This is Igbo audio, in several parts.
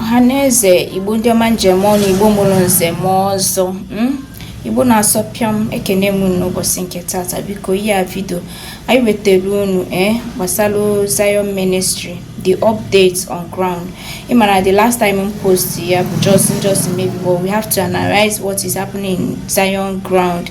ọhaneze igbo ndị ọma m ji eme ọnụ igbo mụrụ nze ma ọzọ hmm? igbo na-asọ pịam ekenee m unu n'ụbọchị nke tata biko ihe a vidio anyị wetara unu ee eh, gbasara Zion Ministry the update on ground ị mara the last time m post ya bụ just just maybe but we have to analyze what is happening in Zion ground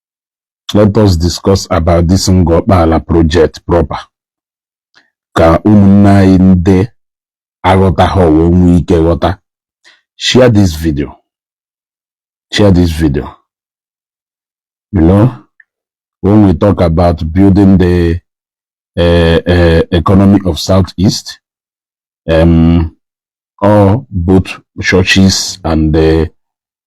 let us discuss about this Ngor Okpala project proper ka ụmụnne anyị ndị aghọtahọ wee nwee ike ghọta share this video share this video you know when we talk about building the uh, uh, economy of southeast um, or both churches and the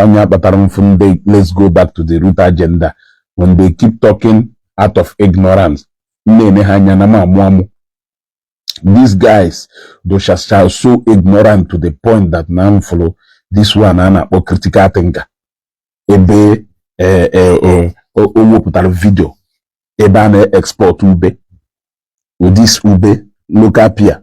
ọ ya kpatara m fụ ndị let's go back to the root agenda when they keep talking out of ignorance na-ene ha anya na m amụ amụ these guys dịchacha so ignorant to the point that na m fụrụ this one a na-akpọ critical thinker ebe eh, eh, eh, o wepụtara vidio ebe a na-export ube this ube local pear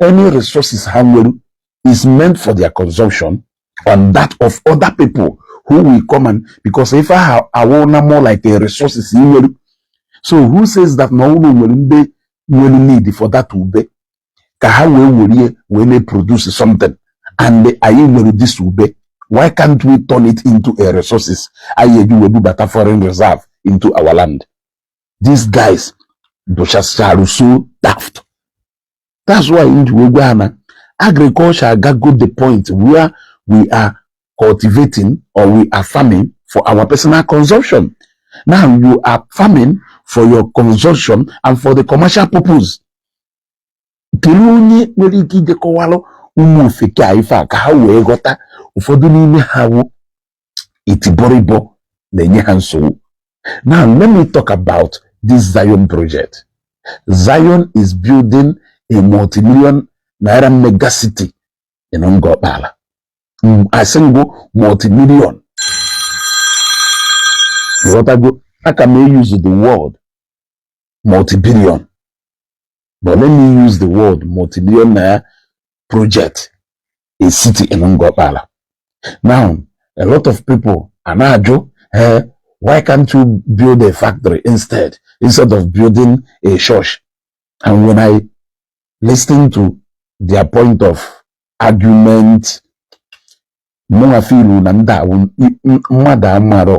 any resources ha nwere is meant for their consumption and that of other people who will come and because ife ọwụna more like a resources i nwere so who says that na o nwerọ ndị nwere need for that ube ka ha wee were ya wee na-produce something and anyị nwere this ube why can't we turn it into a resources anyị eji wee bubata foreign reserve into our land these guys dịchacha so daft that's why m ji wee gwa ha na agriculture agago the point where we are cultivating or we are farming for our personal consumption now you are farming for your consumption and for the commercial purpose kelee onye nwere ike ije kọwalụ ụmụ ofeke a ife a ka ha wee ghọta ụfọdụ n'ime ha wụ itibọrịbọ na-enye ha nsogbu now let me talk about this Zion project Zion is building a multi-million naira mega city in Ngor Okpala mm, asị m gị multi-million ghọtago aka m e-use the word multi-billion but let me use the word multi-millionaire project a city in Ngokpala. Now, a lot of people are now hey, eh, why can't you build a factory instead, instead of building a church? And when I listen to their point of argument, mụnwa filu na ndị mmadụ amarọ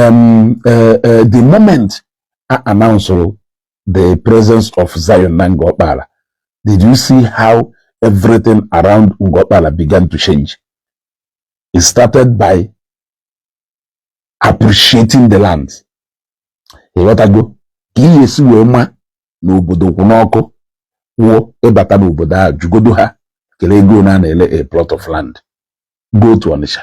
um, uh, uh, the moment I announced the presence of Zion na Ngor Okpala, did you see how everything around Ngor Okpala began to change? It started by appreciating the land. ị ghọtago ka ihe e si wee ma na obodo kwụ n'ọkụ wụ ị bata n'obodo a jụgodu ha kere ego one a na-ele a plot of land go to Onitsha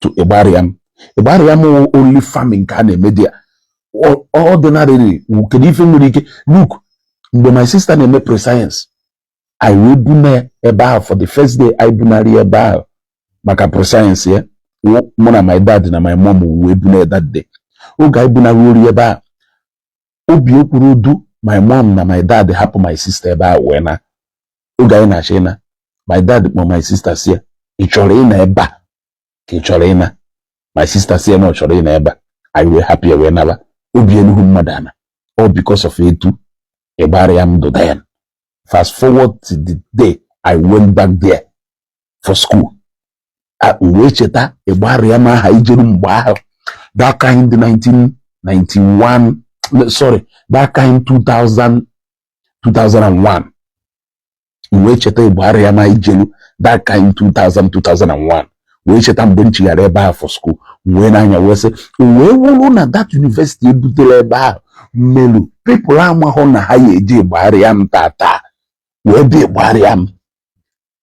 to Igbariam. Igbariam wụ only farming ka a na-eme there. Ordinarily, kedu ife nwere ike look mgbe my sister na-eme pre-science anyị wee buna ebe ahụ for the first day anyị bunarị ebe ahụ maka pre-science ya mụ na my dad na my mom wee buna that day oge anyị bunaruru ya ebe ahụ obi ekwerọdụ my mom na my dad hapụ my sister ebe a wee naa oge anyị na-achọ ịna my dad kpọ my sister sị ya ị chọrọ ịnọ ebe a ka ị chọrọ ịna my sister sị ya na ọ chọrọ ịnọ ebe a anyị wee hapụ ya wee naba obi eluhu mmadụ ana all because of etu Igbariam dụ then fast forward to the day I went back there for school wee cheta Igbariam ahụ anyị jeru mgbe ahụ that kind 1991 sorry that kind 2000 2001 wee cheta Igbariam ahụ anyị jeru that kind 2000 2001 wee cheta mgbe m chighara ebe ahụ for school wee n'anya wee sị wee wụrụ na that university e butere ebe ahụ melu people amahụ na ha ya-eje Igbariam taata wee bịa Igbariam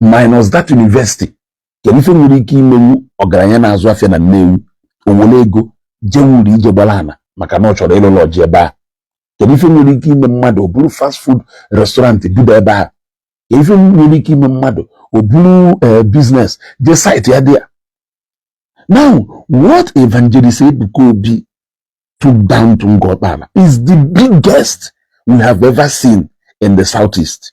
minus that university kedu ife nwere ike imenwu ọgaranya na-azụ afịa na Nnewi o were ego jee wuru ije gbara ana maka na ọ chọrọ ịlụ lodge ebe a kedu ife nwere ike ime mmadụ o buru fast food restaurant bido ebe a kedu ife nwere ike ime mmadụ o buru eh, business jee site ya there now what evangelist Ebuka Obi took down to Ngor Okpala is the biggest we have ever seen in the southeast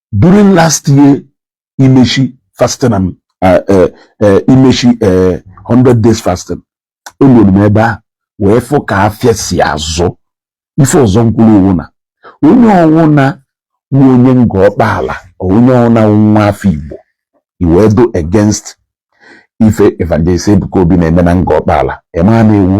during last year imechi fasting and uh, uh, uh, imechi uh, 100 days fasting eluru m ebe a wee fụ ka afịa si azụ ife ọzọ m kwuru ọ wụ na onye ọwụna wụ onye Ngor Okpala onye ọwụna wụ nwa afọ Igbo i wee dụ against ife evangelist Ebuka Obi na-eme na Ngor Okpala ị ma na ị wụ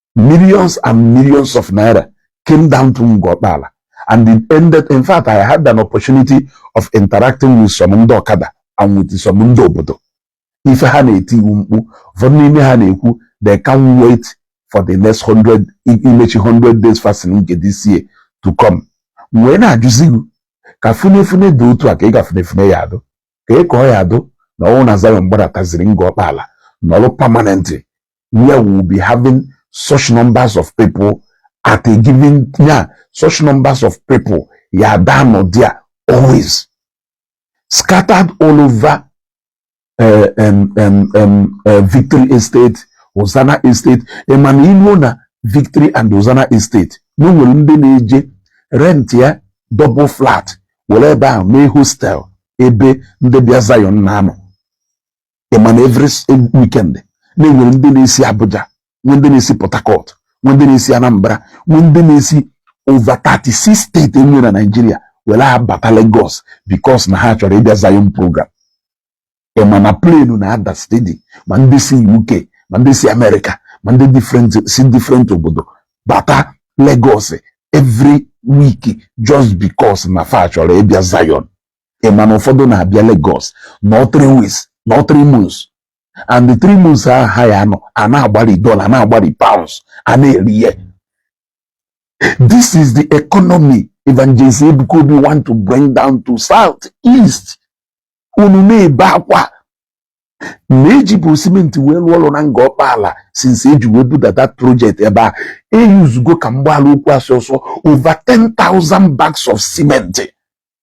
millions and millions of naira came down to Ngor Okpala and it ended in fact I had an opportunity of interacting with some ndị ọkada and with some ndị obodo ife ha na-eti wụ mkpu ụfọdụ n'ime ha na-ekwu they can't wait for the next 100 imechi 100 days fasting nke this year to come wee na-ajụzi gị ka funefune dị otu a ka ị ga funefune ya adụ kee ka ọ ya-adụ na ọ wụ na Zion gbadataziri Ngor Okpala nọrọ permanently where we will be having such numbers of people at a given yeah, such numbers of people ya adị anọ there always scattered all over uh, um, um, um, uh, victory estate Hosanna estate ị ma na iluo na victory and Hosanna estate na o nwere ndị na-eje rentịa double flat were ebe ahụ mee hostel ebe ndị bịa Zion na-anọ ị ma na every weekend na-enwere ndị na-esi Abuja nwee ndị na-esi Port Harcourt nwee ndị na-esi Anambra nwee ndị na-esi over 36 steeti e nwere na Naịjirịa were abata Lagos because na ha chọrọ ịbịa Zion program ị ma na plenu na-ada stedi ma ndị si UK ma ndị si Amerịka ma ndị different si different obodo bata Lagos every week just because na fa chọrọ ịbịa Zion ị ma na ụfọdụ na-abịa Lagos nọọ three weeks nọọ three months and the three months ahụ ha ya anọ a na-agbari dollar na-agbari pounds a na-eri ihe this is the economy evangelist Ebuka Obi want to bring down to south east unu na-ebe akwa na e jibu simenti wee rụọ ọrụ na Ngor Okpala since e ji wee bido that project ebe a e yuzugo ka m gbaala okwu asị ọsọ over 10,000 bags of cement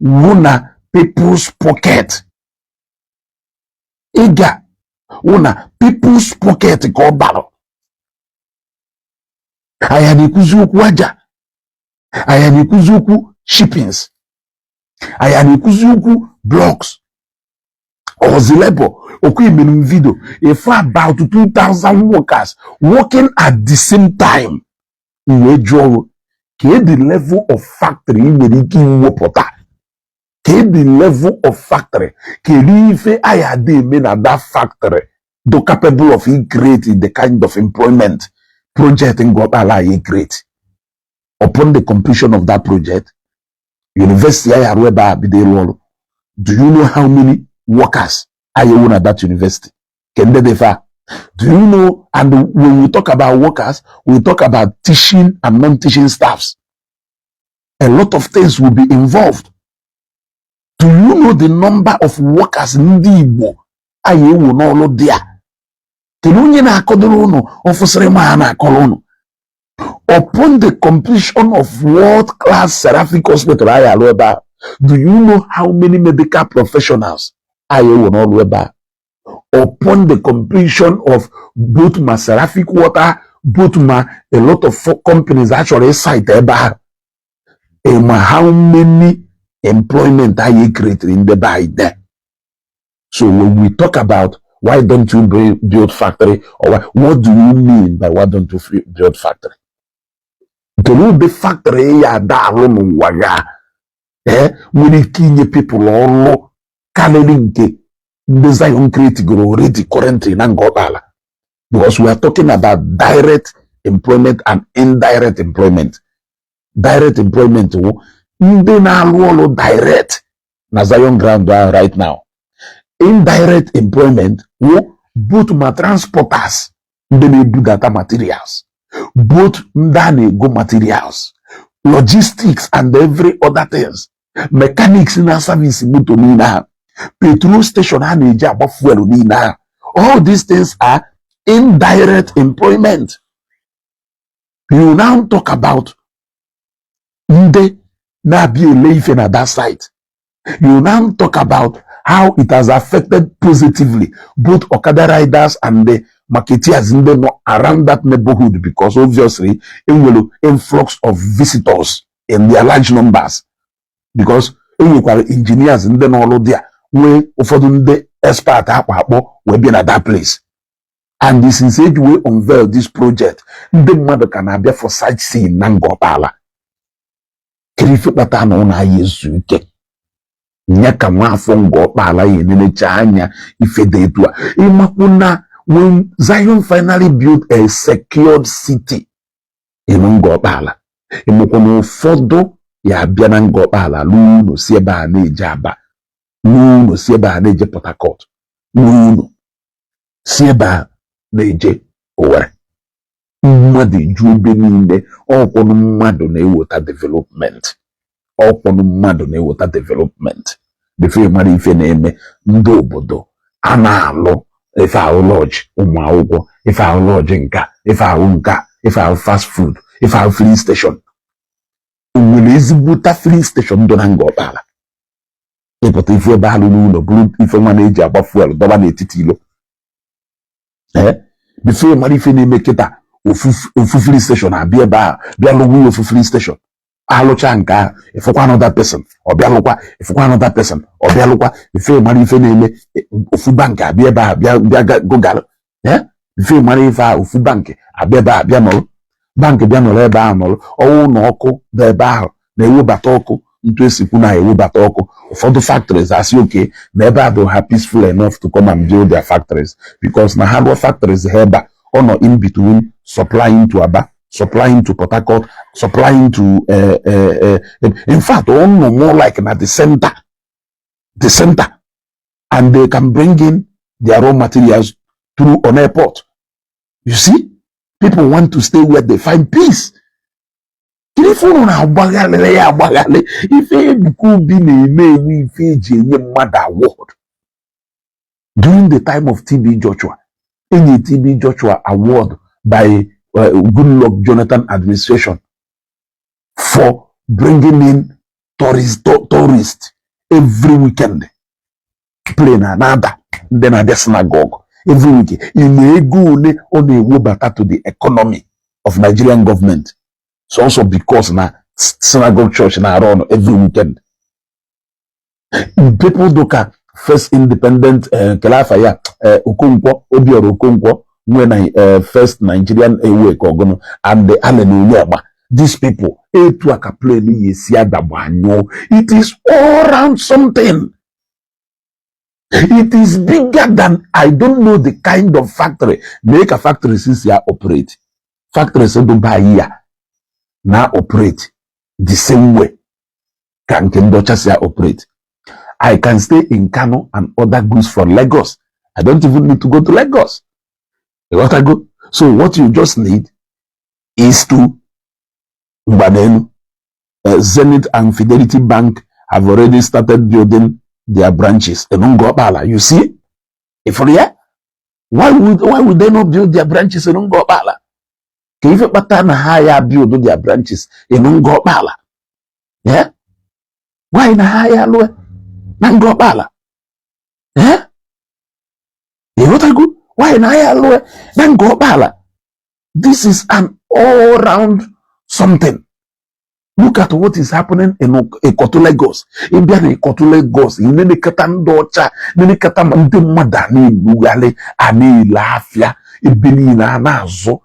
wu na people's pocket ego a wụ na people's pocket ka ọ bara a ya na-ekwuzi okwu aja a ya na-ekwuzi okwu chippings a ya na-ekwuzi okwu blocks ọ zị labour ọ kwa emelu m vidio ife about 2000 workers working at the same time m wee jụọ gị kedụ level of factory ị nwere ike iwepụta kedụ level of factory kedu ife a ya-adị eme na that factory dụ capable of icreate the kind of employment project Ngor Okpala ya create upon the completion of that project university a ya-arụ ebe a bido ịrụ ọrụ do you know how many workers a ya-ewe na that university Kendebefa. Do you know? And when we talk about workers, we talk about teaching and non-teaching staffs. A lot of things will be involved. Do you know the number of workers ndị Igbo a ya-ewe n'ọrụ there? Kedu onye na-akọdoro ụnụ ọfụsịrị ma ha na-akọrọ ụnụ upon the completion of world class seraphic hospital a ya-alụ ebe a do you know how many medical professionals a ya-ewe n'ọrụ ebe a upon the completion of both ma Seraphic Water both ma a lot of companies a chọrọ ịsite ebe ahụ ị ma how many employment a ya-ecreatere ndị be anyị there so when we talk about why don't you build factory or what do you mean by why don't you build factory kedu ụdị factory ya ada alụ n'ụwa ya eh, nwere ike inye people ọrụ kalịlị nke ndị Zion create goro already currently na Ngor Okpala because we are talking about direct employment and indirect employment direct employment wụ ndị na-alụ ọrụ direct na Zion ground ahụ right now indirect employment wụ both ma transporters ndị na-ebudata materials both ndị a na-ego materials logistics and every other things mechanics na-service moto niile ha petrol station ha na-eji agba fuel niile ha all these things are indirect employment you now talk about ndị na-abịa ele ife na that site you now talk about how it has affected positively both okada riders and the marketeers ndị nọ around that neighborhood because obviously e nwere influx of visitors in their large numbers because e nwekwara engineers ndị n'ọrụ there nwee ụfọdụ ndị expert a kpọ akpọ wee bịa na that place and since e ji wee unveil this project ndị mmadụ ka na-abịa for sightseeing na Ngor Okpala kere ife kpata na unu aya ezu ike nya ka nwa afọ Ngor Okpala ya-enenecha anya ife dị etu a ị makwu na when Zion finally built a secured city in Ngor Okpala ị makwa na ụfọdụ ya-abịa na Ngor Okpala lụọ ụlọ si ebe a na-eje Aba lụọ ụlọ si ebe a na-eje Port Harcourt lụọ ụlọ si ebe a na-eje Owerri mmadụ eju ebe niile ọ kwanụ mmadụ na-eweta development ọ kwanụ mmadụ na-eweta development before ị mara ife na-eme ndị obodo a na-alụ ife ahụ lodge ụmụ akwụkwọ ife ahụ lodge nka ife ahụ nka ife ahụ fast food ife ahụ filling station o nwere ezigbote filling station dị na Ngor Okpala ị pụta ị fụ ebe alụ n'ụlọ buru ife nwa na-eji agba fuel dọba n'etiti ilo ee before ị mara ife na-eme kịta ofu filling station abịa ebe a bịa lụwa ya ofu filling station alụcha nke ahụ ịfụkwa another person ọ bịa lụkwa ịfụkwa another person ọ bịa lụkwa before ị mara ife na-eme ofu bank abịa ebe a bịa bịa gụgara before ị mara ife a ofu bank abịa ebe a bịa nọrọ bank bịa nọrọ ebe ahụ nọrọ ọ wụ na ọkụ dị ebe ahụ na-ewebata ọkụ etu esikwu na-ewebata ọkụ ụfọdụ factories asị okay na ebe a bụ ha peaceful enough to come and build their factories because na ha rụọ factories ha ebe a ọ nọ in between supplying to Aba supplying to Port Harcourt supplying to uh, uh, uh, in fact ọ nọ more like na the center the center and they can bring in their raw materials through an airport you see people want to stay where they find peace ife unu na-agbagharịrị ya agbagharị ife Ebuka Obi na-eme wụ ife eji enye mmadụ award during the time of TB Joshua enye TB Joshua award by uh, Goodluck Jonathan administration for bringing in tourist, tourist every weekend plane ana-ada ndị na-abịa synagogue every weekend ị ma ego ole ọ na-ewebata to the economy of Nigerian government sọọsọ because na synagogue church na-arun every weekend people do ka first independent eh, kele afa ya eh, okonkwo obiọra okonkwo nwe na eh, first nigerian awake ọgụnụ and the allen onyegba these people etu a ka plane yi esi adagba anyụọ it is all round something it is bigger than i don't know the kind of factory mee ka factory si ya operate factories dụba ya na operate the same way ka nke ndị ọcha si operate I can stay in Kano and order goods from Lagos I don't even need to go to Lagos ịghọtago so what you just need is to ngwa nenu eh, Zenith and Fidelity Bank have already started building their branches in Ngor Okpala you see ifụrụ ya why would why would they not build their branches in Ngor Okpala? Kee ife kpata na ha ya build their branches in Ngor Okpala? ee why na ha ya alụe na Ngor Okpala ee ịghọtago why na ha ya alụe na Ngor Okpala this is an all round something look at what is happening in Ikotu Lagos ịbịa na Ikotu Lagos ị nenekata ndị ọcha nenekata ndị mmadụ a na-elugharị a na-ele afịa ebe niile a na-azụ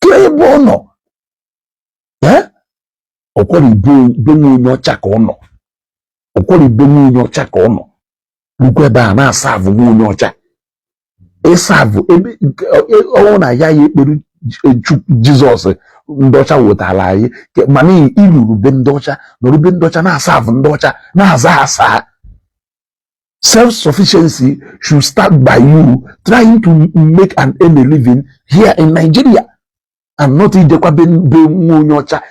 ke ebe ọ nọ ọkwara ibe nwa onye ọcha ka ọ nọ ọkwara ibe nwa onye ọcha ka ọ nọ rukwa ebe a na-aserve nwa onye ọcha ị serve ebe ọ wụ na ya ya ekpere Jesus ndị ọcha wetaara anyị mana i ruru be ndị ọcha nọrọ be ndị ọcha na-aserve ndị ọcha na-aza sir Self sufficiency should start by you trying to make and earn a living here in Nigeria and not ijekwa be nwa onye ọcha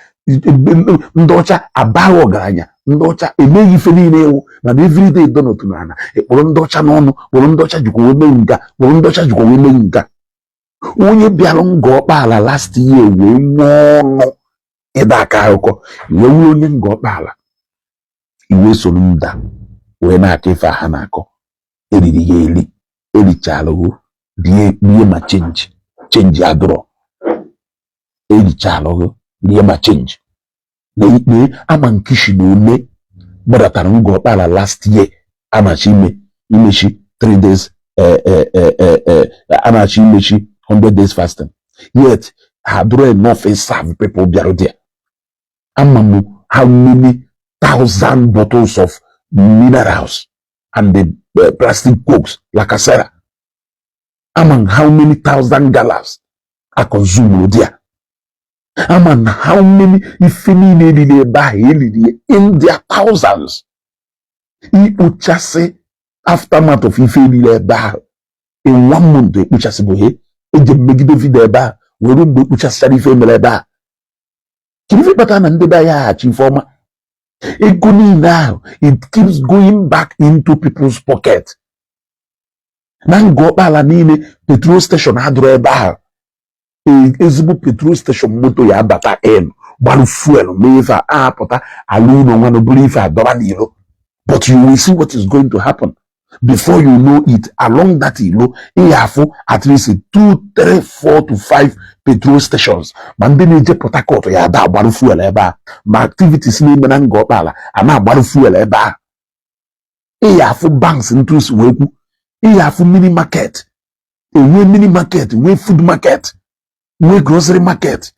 ndị ọcha abaghị ọgaranya ndị ọcha emeghị ife niile ewu mana everyday donald na ana ekpọrọ ndị ọcha n'ọnụ kpọrọ ndị ọcha jikwa wee mee nga kpọrọ ndị ọcha jikwa wee mee nga onye bịara Ngor Okpala last year wee nwee ọnụ ịda akọ akụkọ ị wụrụ onye Ngor Okpala ị wee soro ndị a wee na-akọ ife a ha na-akọ eriri ya eri erichalụgo rie rie ma change change adụrọ erichalụgo rie ma change na ikpe ama nkishi na ole gbadatara Ngor Okpala last year anachi ime imechi 3 days eh, eh, eh, eh, eh, anachi imechi 100 days fasting yet ha adụrọ enough ịserve people bịara there ama m how many thousand bottles of minerals and the uh, plastic cokes Lacasera ama m how many thousand galas a consumerụ there ama m how many ife niile eriri ebe ahụ eriri ya in their thousands ikpochasị aftermath of ife eriri ebe ahụ in one month ekpochasị bụ he eji megide video ebe ahụ were mgbe ekpochasịchara ife emere ebe ahụ kedu ife kpatara na ndị be anyị aha achọ ife ọma ego niile ahụ it keeps going back into people's pocket na Ngor Okpala niile petrol station adụrọ ebe ahụ e, ezigbo petrol station moto ya abata gbarụ fuel mee ife a apụta alụ ụnọ nwanụ bụrụ ife adọba n'ilo but you will see what is going to happen before you know it along that ilo ị ya afụ at least two three four to five petrol stations ma ndị na-eje Port Harcourt ya ada agbarụ fuel ebe a ma activities na-eme na Ngor Okpala a na-agbarụ fuel ebe a ị ya afụ banks ntu si wee kwu ị ya afụ mini market enwe mini market nwee food market nwee grocery market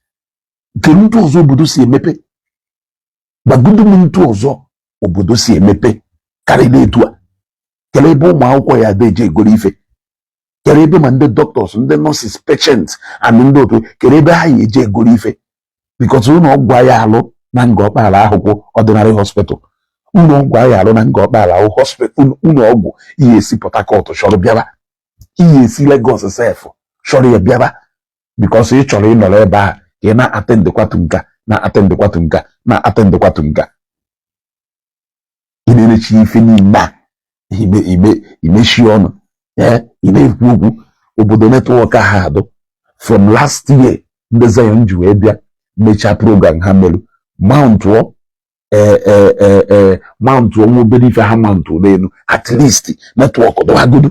kedu ntu ọzọ obodo si emepe gwagodu m ntu ọzọ obodo si emepe karịrị etu a kedu ebe ụmụ akwụkwọ ya ada eje egoro ife kedu ebe ma ndị doctors ndị nurses patients and ndị otu kedu ebe ha ya eje egoro ife because ụlọ ọgwụ a ya alụ na Ngor Okpala ahụkwụ ordinary hospital ụlọ ọgwụ a ya alụ na Ngor Okpala ahụ hospital ụlọ ọgwụ ị ya esi Port Harcourt chọrọ bịaba ị ya esi Lagos sef chọrọ ya bịaba because ị chọrọ ịnọrọ ebe ahụ ka ị na-attend kwatu nka na-attend kwatu nka na-attend kwatu nka ị na-erechi ife niile a imechi ọnụ ee ị ma-ekwu okwu obodo network ha adụ from last year ndị Zion ji wee bịa mechaa program ha merụ mountụọ ee e, e, e, mountụọ nwa obere ife ha mountụ n'elu at least network dụwagodu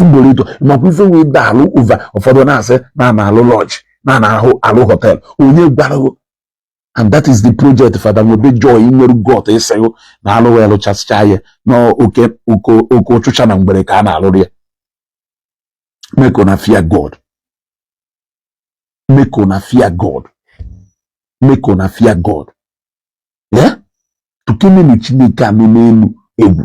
ugboro ịtọ makwa ife wee da alụ ụva ụfọdụ na-asị na a na-alụ lodge na a na-alụ hotel onye gwara ghụ and that is the project Father nwebe joy nwere got ịsịghụ na alụ wee lụchasịcha ya na oke oke ụchụcha na mgbere ka a na-alụrụ ya make una fear God make una fear God make una fear God ya tụkenenụ Chineke nọ n'enu egwu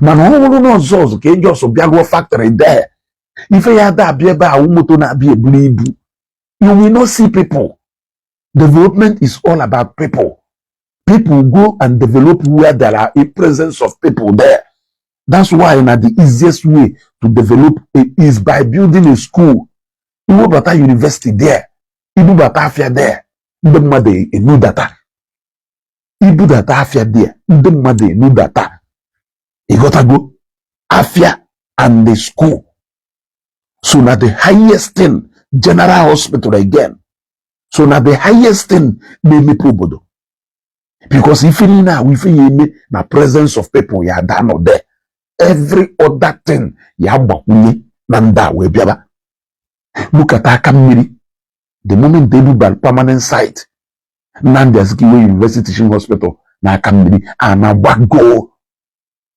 mana ọ bụrụ na ọ sọsọ ka ị just bịa lụọ factory there ife ya da abịa ebe a wụ moto na-abịa eburu ibu you will not see people development is all about people people go and develop where there are a presence of people there that's why na the easiest way to develop is by building a school ị webata university there ị bubata afịa there ndị mmadụ enudata ị budata afịa there ndị mmadụ enudata ị ghọtago afịa and the school so na the highest thing general hospital again so na the highest thing na-emepe obodo because ife niile a wụ ife ya-eme na presence of people ya da-anọ there every other thing ya gbakwunye na ndị a wee bịaba look at Akamiri the moment e bubalụ permanent site Nnamdi Azikiwe University Teaching Hospital na Akamiri ana agbagoo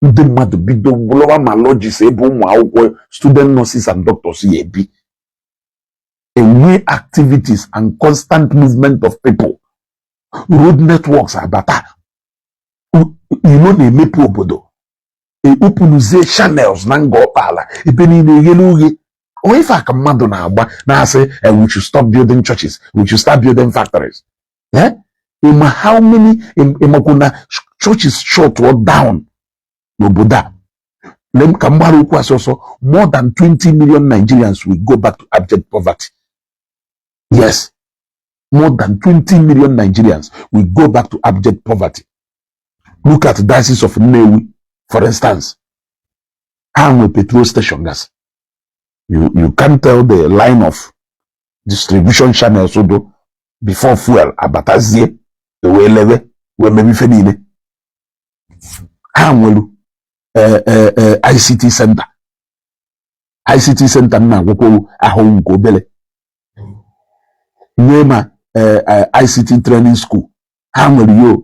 ndị mmadụ bido lụwa ma lodges ebe ụmụ akwụkwọ student nurses and doctors ya-ebi e nwee activities and constant movement of people road networks abata ilo na-emepe obodo e openuzie channels na Ngor Okpala ebe niile eghele oghe onye ife a ka mmadụ na-agba na-asị eh, we should stop building churches we should start building factories eh? ị ma how many ị makwu na churches shutụọ down n'obodo a lem ka m gbara okwu asị ọsọ more than 20 million Nigerians will go back to abject poverty yes more than 20 million Nigerians will go back to abject poverty look at diocese of Nnewi for instance ha nwe petrol station gasị you you can tell the line of distribution channels dụ before fuel abatazie e wee lewe wee mebe ife niile ha nwere eh, eh, eh, ICT center ICT center m na-agwakwowu ahụ nke obere nwee ma ICT training school ha nwere yo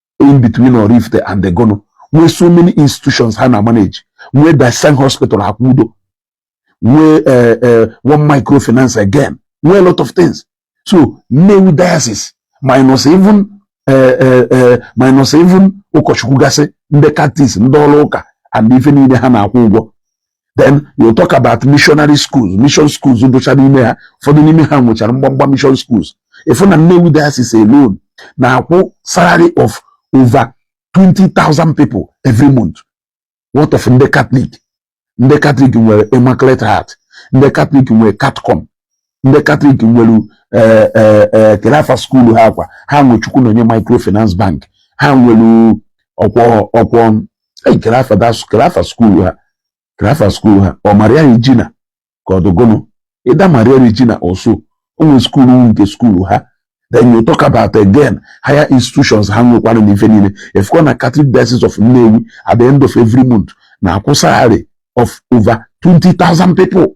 in between Oraifite and eh gụnụ nwee so many institutions ha na manage nwee Diocesan hospital Akwudo nwee eh, eh, one microfinance again nwee a lot of things so Nnewi diocese minus even eh, minus even ụkọchukwu gasị ndị catechist ndị ọrụ ụka and ife niile ha na-akwụ ụgwọ then you talk about missionary schools mission schools dụcha n'ime ha ụfọdụ n'ime ha nwechara mgbamgba mission schools ị fụ na Nnewi diocese alone na-akwụ salary of over 20,000 people every month what of ndị Catholic ndị Catholic nwere Immaculate Heart ndị Catholic nwere Catcom ndị Catholic nwere ee eh, eh, kee afa skuulu ha a kwa ha nwe Chukwunenye microfinance bank ha nwere ọkwọ ọkwọ kee afa skuulu ha kee afa skuulu ha ọ Maria Regina ka ọ dụ gụnụ either Maria Regina or so o nwee skuulu nke skuulu ha then you talk about again higher institutions ha nwekwara na ife niile ị fụkwa na Catholic Diocese of Nnewi at the end of every month na-akwụ salary of over 20,000 people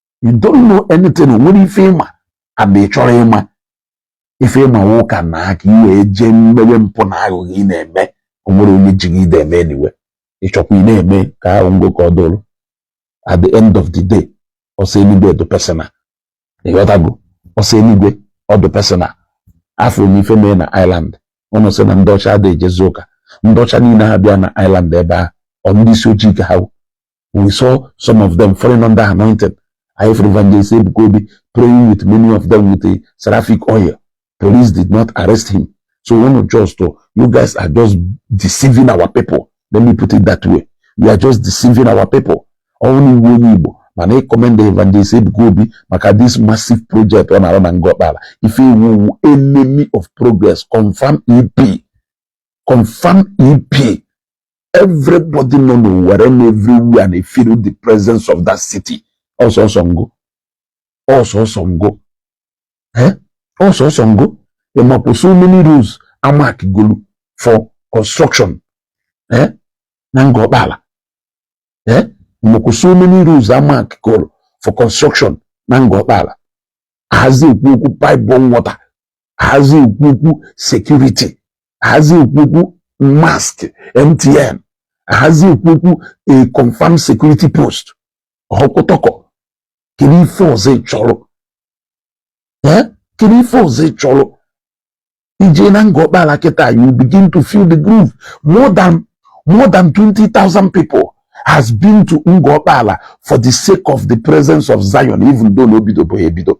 you don't know anything o nwerọ ife ị ma and ị chọrọ ịma ife ị ma ụka na aka i wee jee mewe mpụ na aghụghọ ị na-eme o nwerọ onye ji gị i de eme anyway ị chọkwa ị na-eme ka ahụ ngo ka ọ dụrụ at the end of the day ọsọ eluigwe dị personal ị ghọtago ọsọ eluigwe ọ dị personal afụ m ife mee na Ireland ụnụ sị na ndị ọcha adịghị ejezi ụka ndị ọcha niile ha bịa na Ireland ebe a ọ ndị isi ojii ka ha we saw some of them falling under anointing I have evangelist Ebuka Obi praying with many of them with a seraphic oil police did not arrest him so one of just to you guys are just deceiving our people let me put it that way we are just deceiving our people ọnwụ iwu onye Igbo mana ịkọmenda evangelist Ebuka Obi maka this massive project ọ na-arụ na Ngokpala ife iwu iwu enemy of progress confirm EP confirm EP everybody nọ n'Owerri na everywhere na-efeel the presence of that city ọ sọsọ Ngor ọ sọsọ Ngor eh? ọ sọsọ Ngor ị makwa so many roads a markgolu for construction eh? na Ngor Okpala eh? ị makwa so many roads a markgolu for construction na Ngor Okpala ahazi ekwu okwu pipe-borne water ahazi ekwu okwu security ahazi ekwu okwu mask MTN ahazi ekwu okwu a confirmed security post okotoko kedu ife ọzọ ị chọrọ kedu ife ọzọ ị chọrọ ị jee na Ngor Okpala kịta you begin to feel the groove more than more than 20,000 people has been to Ngor Okpala for the sake of the presence of Zion, even though na o bidobe ebido.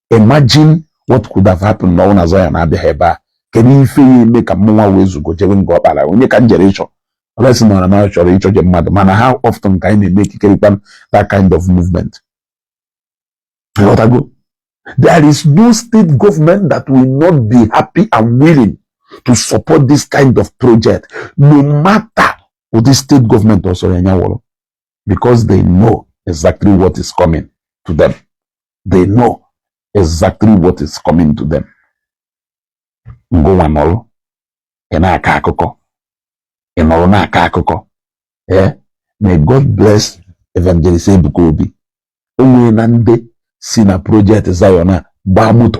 imagine what could have happened na ọ na Zion abịaghị ebe a kedu ife ya eme ka mmụnwa wee zugo jebe Ngor Okpala onye ka m jere ịchọ unless na ọ na m chọrọ ịchọ je mmadụ mana how often ka anyị na-emake that kind of movement there is no state government that will not be happy and willing to support this kind of project no matter ụdị state government ọ sọ ya nya wụrụ because they know exactly what is coming to them they know exactly what is coming to them ngụnwa nọrụ ị na-akọ akụkọ ị nọrụ na-akọ akụkọ ee may God bless evangelist Ebuka Obi o nwere na ndị si na project Zion a gbaa moto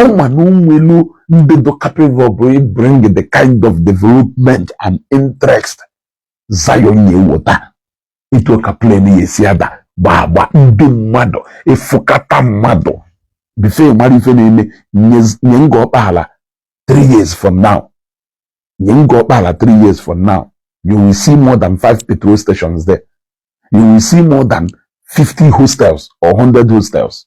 ọ ma na onwelu ndị dụ capable of bringing the kind of development and interest Zion ya ewota etu ka plane ya esi ada gba agba ndị mmadụ ịfụkata mmadụ before ị mara ife na-eme nye Ngor Okpala 3 years from now nye Ngor Okpala 3 years from now you will see more than 5 petrol stations there you will see more than 50 hostels or 100 hostels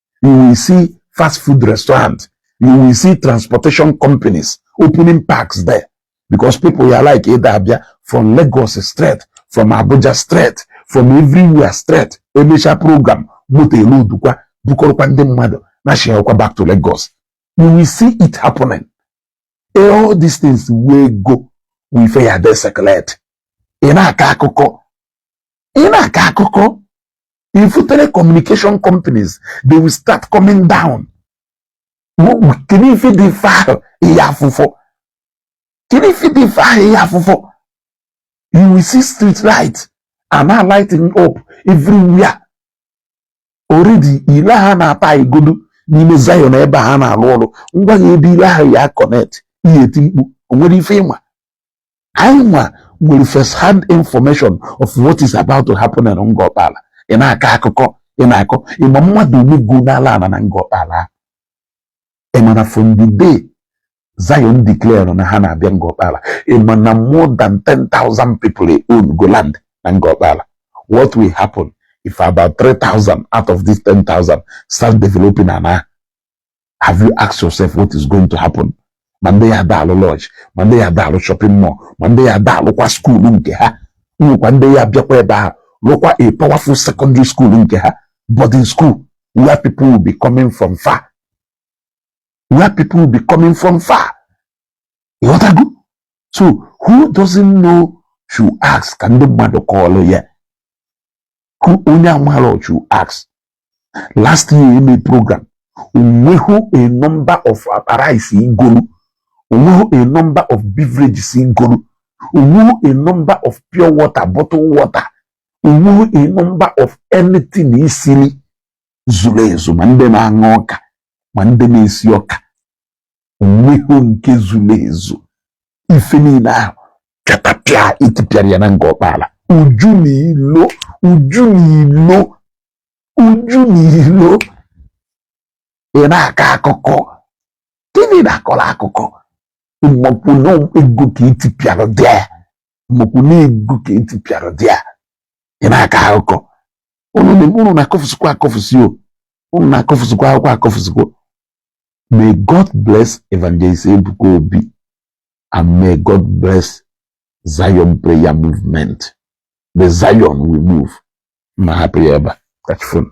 you will see fast food restaurant you will see transportation companies opening parks there because people ya like ịda abịa from Lagos straight from Abuja straight from everywhere straight emecha program moto eloadukwa bukọrọkwa ndị mmadụ nashiakwa back to Lagos you will see it happening all these things wụ ego wụ ife ya ada ecirculate ị na-akọ akụkọ ị na-akọ akụkọ ị fụ telecommunication companies they will start coming down kedu ife dị ife ahụ ị ya afụfọ kedu ife dị ife ahụ ị ya afụfọ you will see street light and now lighting up everywhere already ile ha na-ata igodo n'ime Zion ebe ha na-alụ ọrụ ngwa ya ebe ile ahụ ya connect ị ya eti mkpu o nwere ife ị ma anyị nwa nwere first hand information of what is about to happen in Ngor Okpala ị na-akọ akụkọ ị na-akọ ị ma mmadụ ole gonala ana na Ngor Okpala ị ma na from the day Zion declare na ha na-abịa Ngor Okpala ị ma na more than 10,000 people own go land na Ngor Okpala what will happen if about 3,000 out of these 10,000 start developing ana have you asked yourself what is going to happen ma ndị ya ada alụ lodge ma ndị ya ada alụ shopping mall ma ndị ya ada alụkwa school nke ha nwekwa ndị ya abịakwa ebe ahụ lụkwa a powerful secondary school nke ha boarding school where people will be coming from far where people will be coming from far ịghọtago so who doesn't know should ask ka ndị mmadụ kọọlụ ya hụ onye amarọ should ask last year eme program onweghị a number of rice igolu onweghị a number of beverages igolu onweghị a number of pure water bottle water onweghị a number of anything esili zulu ezu ma ndị na-aṅa ọka ma ndị na-esi ọka onweghị nke zulu ezu ife niile ahụ pịatapịa etipịara ya na Ngor Okpala uju na ilo uju na ilo uju na ilo ị na-akọ akụkọ gịnị na-akọrọ akụkọ ị makwa na ego ka etipịara there ị makwa na ego ka etipịara there ị na-akọ akụkọ unu na-akọfụsikwa akọfụsi o unu na-akọfụsikwa akụkọ akọfụsikwa may God bless Evangelist Ebuka Obi and may God bless Zion prayer movement the Zion we move ma hapụ ya ebe a ka chi fo nụ